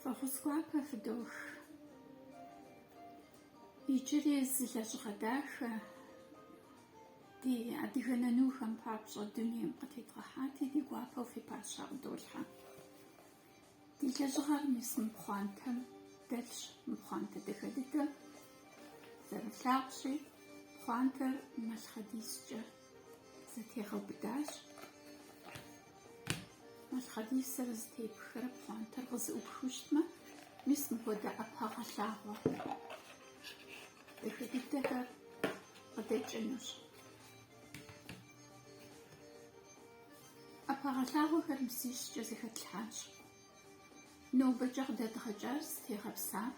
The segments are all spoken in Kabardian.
Фӏэхъус гуапэ фыдох. Иджыри зы лэжьыгъэ дахэ ди адыгэ нанухэм папщӏэ дунейм къытедгъэхьати, ди гуапэу фи пащхьэ къыдолъхьэ. Ди лэжьыгъэр мис мы пхъуантэм дэлъщ, мы пхъуантэ дахэ дыдэм. Зэрылъагъущи, пхъуантэр Малъхъэдискӏэ Зэтегъэубыдащ. Малъхъэдисыр зэтепхрэ пхъуантэр къызыӏупхыу щытмэ, мис мыхуэдэ ӏэпэгъэлъагъуэ дахэ дыдэхэр къыдэкӏынущ. Ӏэпэгъэлъагъуэхэр бзищкӏэ зэхэтлъхьащ. Нобэкӏэ къыдэдгъэкӏар зытегъэпсар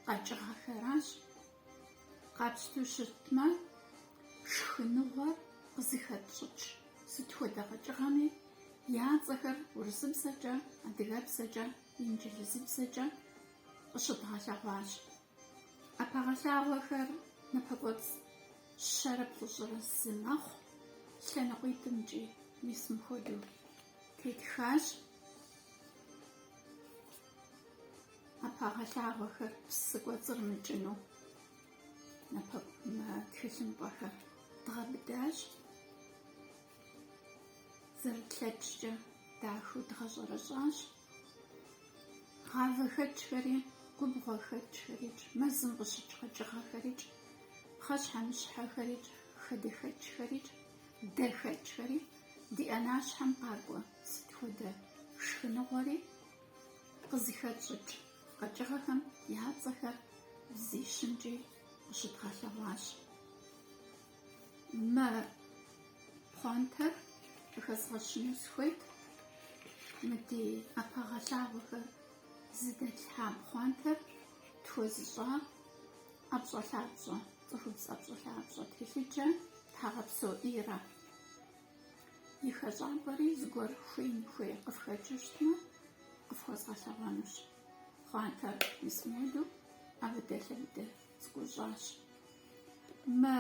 къэкӏыгъэхэращ Къапщтэу щытмэ, шхыныгъуэр къызыхэтщӏыкӏ сыт хуэдэ къэкӏыгъэми я цӏэхэр урысыбзэкӏэ, адыгэбзэкӏэ, инджылызыбзэкӏэ къыщыдгъэлъэгъуащ. ӏэпэгъэлъагъуэхэр напэкӏуэцӏ щэрэ плӏыщӏрэ зы мэхъу, лъэныкъуитӏымкӏи мис мыхуэдэу тетхащ. Ӏэпэгъэлъагъуэхэр псы кӏуэцӏрымыкӏыну тхылъымпӏэхэр дгъэбыдащ. Зэрытлъэкӏкӏэ дахэу дгъэщӏэрэщӏащ. Гъавэхэкӏхэри, губгъуэхэкӏхэрикӏ, мэзым къыщыкӏ къэкӏыгъэхэрикӏ, пхъэщхьэмыщхьэхэрикӏ, хадэхэкӏхэрикӏ, дэхэкӏхэри ди ӏэнащхьэм къакӏуэ сыт хуэдэ шхыныгъуэри, Къызыхэтщӏыкӏ къэкӏыгъэхэм я цӏэхэр бзищымкӏи къыщыдгъэлъэгъуащ. Мы пхъуантэр къыхэзгъэщыну сыхуейт, мы ди ӏэпэгъэлъагъуэхэр зыдэтлъхьа пхъуантэр тхуэзыщӏа ӏэпщӏэлъапщӏэ, цӏыхубз ӏэпщӏэлъапщӏэ телъыджэ Тхьэгъэпсо Ирэ. И хэщӏапӏэри зыгуэр хуеин хуей къыфхэкӏыу щытмэ, къыфхуэзгъэлъэгъуэнущ. Пхъуантэр мис мыхуэдэу ӏэбыдэлъэбыдэ цӏыкӏуу щӏащ. Мы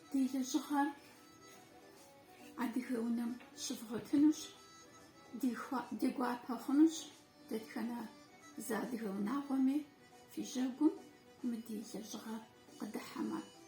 ди лэжьыгъэр адыгэ унэм щывгъуэтынущ, ди гуапэ хъунущ дэтхэнэ зы адыгэ унагъуэми фи жьэгум мы ди лэжьыгъэр къыдыхьэмэ.